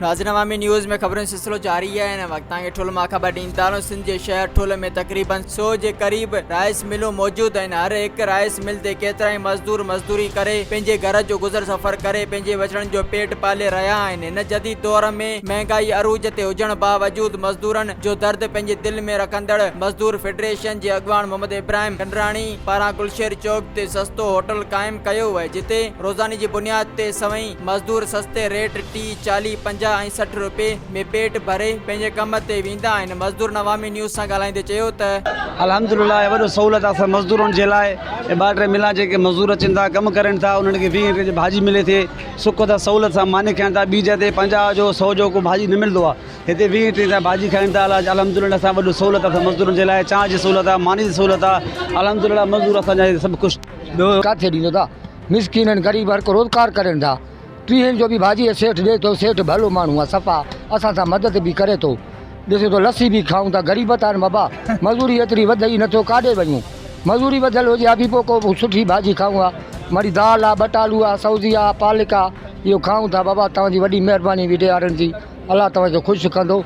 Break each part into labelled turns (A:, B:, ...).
A: ناظرين عوامي نيوز ۾ خبرن جو سلسلو جاري آهي هن وقت توهان کي ٺل مان خبر ڏين ٿا رهون سنڌ جي شهر ٺل ۾ تقريبن سو جي قريب رائس ملون موجود آهن هر هڪ رائس مل تي ڪيترائي مزدور مزدوري ڪري پنهنجي گهر جو گذر سفر ڪري پنهنجي ٻچڙن جو پيٽ پالي رهيا آهن هن جديد دور ۾ مهنگائي عروج تي هجڻ باوجود مزدورن جو درد پنهنجي دل ۾ رکندڙ مزدور فيڊريشن جي اڳواڻ محمد ابراهيم ڪنڊراڻي پاران گلشير چوڪ تي سستو هوٽل قائم ڪيو وئي جتي روزاني جي بنياد تي سوين مزدور سستي ريٽ ٽي چاليهه پنجاهه ۽ سٺ روپي ۾ پيٽ ڀري پنهنجي ڪم تي ويندا آهن مزدورن عوامي نيوز سان ڳالهائيندي چيو ته. الحمدلله اهي وڏو
B: سهولت آ اسان مزدورن جي لاء ٻه ٽي ملان جيڪي مزدور اچن ٿا ڪم ڪرين ٿا انهن کي ويهه روپي جي ڀاڄي ملي ٿي. سڪ تان سهولت سان ماني کائين ٿا ٻي جاء تي پنجاهه جو سو جو ڪو ڀاڄي نه ملندو آهي هتي ويهه ٽيهه تان ڀاڄي کائين ٿا الله جي الحمدلله اسان وڏو سهولت اٿس مزدورن جي لاء چانهه جي سهولت آهي ماني جي سهولت آهي الحمدلله مزدور اسان جا هتي سڀ خوش ٻيو ڪاٿي ڏيندو
C: ٿا مسڪينن غريب هر ڪو روزگار ڪرين ٿا ٽيهن جو به ڀاڄي سيٺ ڏي ٿو سيٺ ڀلو ماڻهو آهي صفا اسان سان مدد به ڪري ٿو ڏسو ته لسي به کائون ٿا غريب ٿا مبا مزوري ايتري وڌئي نٿو ڪاڏي وڃون مزوري وڌل هجي ها به پو ڪو سٺي ڀاڄي کائون ها مڙي دال ها ٻٽ آلو ها سوزي ها پالڪ ها اهو کائون ٿا بابا توهان جي وڏي مهرباني ويڊيو وارن جي الله توهان کي خوش ڪندو.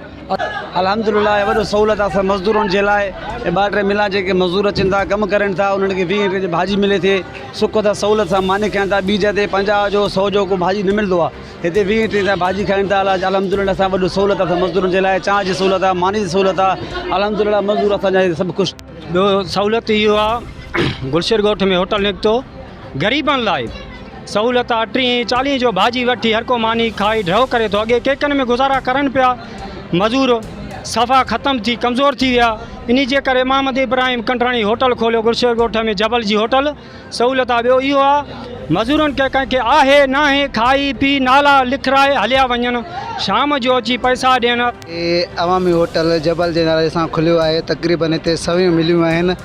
C: الحمدلله
B: اهي وڏو سهولت آ اسان مزدورن جي لاء اهي ٻه ٽي ملان جيڪي مزدور اچن ٿا ڪم ڪرين ٿا انهن کي ويهه روپين جي ڀاڄي ملي ٿي سڪ ٿا سهولت سان ماني کائين ٿا ٻي جاء تي پنجاهه جو سو جو ڪو ڀاڄي نه ملندو آ هتي ويهين ٽيهين تائين ڀاڄي کائين ٿا الله جي الحمد لله اسان وڏو سهولت اٿس مزدورن جي لاء چانهه جي سهولت آهي ماني جي سهولت آهي الحمد لله مزدور اسان جا سڀ خوش ٻيو سهولت
D: اهو آهي گلشير ڳوٺ ۾ هوٽل نڪتو غريبن لاء سهولت آهي ٽيهين چاليهين جو ڀاڄي وٺي هر ڪو ماني کائي ڍؤ ڪري ٿو اڳي ڪيڪن ۾ گذارا ڪرن پيا مزور صفا ختم ٿي ڪمزور ٿي ويا ان جي ڪري محمد ابراهيم ڪنڊراڻي هوٽل کوليو گلشير ڳوٺ ۾ جبل جي هوٽل سهولت آ ٻيو اهو آ مزورن کي ڪنهن کي آهي ناهي کائي پي نالا لکرائي هليا وڃن شام جو اچي پئسا ڏين. هي عوامي هوٽل
E: جبل جي نالي سان کليو آهي تقريبن هتي سوين مليون آهن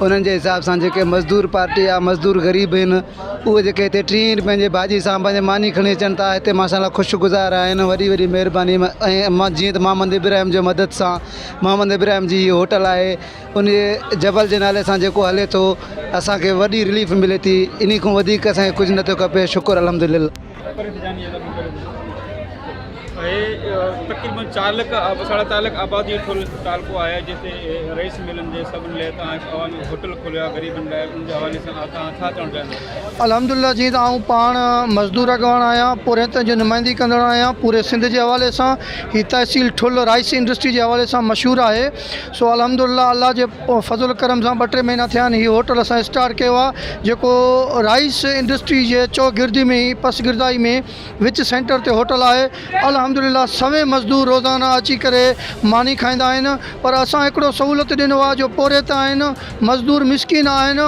E: انهن جي حساب سان جيڪي مزدور پارٽي يا مزدور غريب آهن اهي جيڪي هتي ٽيهين روپين جي ڀاڄي سان پنهنجي ماني کڻي اچن ٿا هتي ماشا الله خوش گذار آهن وڏي وڏي مهرباني ۽ جيئن ته محمد ابراهيم جي مدد سان محمد ابراهيم جي هي هوٽل آهي انهي جبل جي نالي سان جيڪو هلي ٿو اسان کي وڏي رليف ملي ٿي انهي کون وڌيڪ اسان کي ڪجهه نه ٿو کپي شڪر الحمدلله. اهي تقريبن چار
F: لک ساڍا چار لک آبادي ٿيل تعلقو آهي جنهن تي رئيس ملن جي سڀن لئه تان هڪ عوامي هوٽل
G: کوليو آهي غريبن لاء ان جي حوالي سان توهان ڇا چوڻ چاهيندا آهيو. الحمدلله جيئن ته آئون پاڻ مزدور اڳواڻ آهيان پورهيتن جو نمائندي ڪندڙ آهيان پوري سنڌ جي حوالي سان هي تحصيل ٺل رائس انڊسٽري جي حوالي سان مشهور آهي سو الحمد لله الله جي فضل ڪرم سان ٻه ٽي مهينا ٿيا آهن هي هوٽل اسان اسٽارٽ ڪيو آهي جيڪو رائيس انڊسٽري جي چوگردي ۾ ئي پس گردائي ۾ وچ سينٽر تي هوٽل آهي الحمد لله سوين مزدور روزانه اچي ڪري ماني کائيندا آهن پر اسان هڪڙو سهولت ڏنو آهي جو پورهيت آهن مزدور مسڪين آهن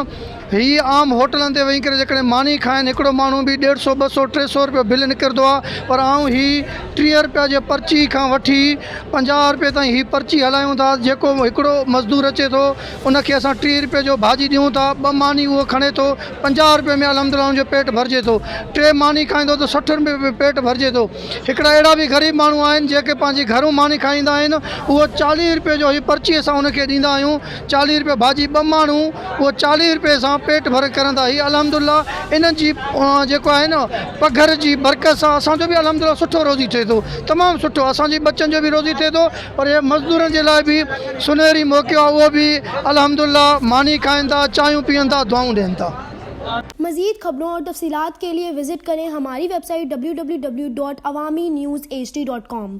G: هي عام هوٽلن تي ويهي ڪري جيڪڏهن ماني کائن، هڪڙو ماڻهو به ڏيڍ سئو، ٻه سئو، ٽي سئو رپيو بل نڪرندو آ، پر آئون هي ٽيهه رپيا جي پرچي کان وٺي پنجاهه رپئي تائين هي پرچي هلايون ٿا، جيڪو هڪڙو مزدور اچي ٿو، ان کي اسان ٽيهه رپئي جو ڀاڄي ڏيون ٿا، ٻه ماني اهو کڻي ٿو، پنجاهه رپئي ۾ الحمدلله ان جو پيٽ ڀرجي ٿو، ٽي ماني کائيندو ته سٺ رپئي ۾ پيٽ ڀرجي ٿو، هڪڙا اهڙا به غريب ماڻهو آهن، جيڪي پنهنجي گهرون ماني کائيندا آهن، اهو چاليهه رپئي جو هي پرچي اسان ان کي ڏيندا آهيون، چاليهه رپيه ڀاڄي ٻه ماڻهو اهو چاليهه رپيه سان پيٽ ڀري ڪرندا هي الحمدالله انهن جي جيڪو آهي نه پگهر جي برڪت سان اسان جو به الحمدالله سٺو روزي ٿئي ٿو تمام سٺو اسان جي ٻچن جو به روزي ٿئي ٿو پر هي مزدورن جي لاء به سنهري موقعو آهي اهو به الحمدالله ماني کائين ٿا چانهيون پيئن ٿا دعائون ڏين ٿا. مزيد
H: خبرون اور تفصيلات کے ليے وزٽ ڪرين ھماري ويب سائيٽ www.awaminews hd.com.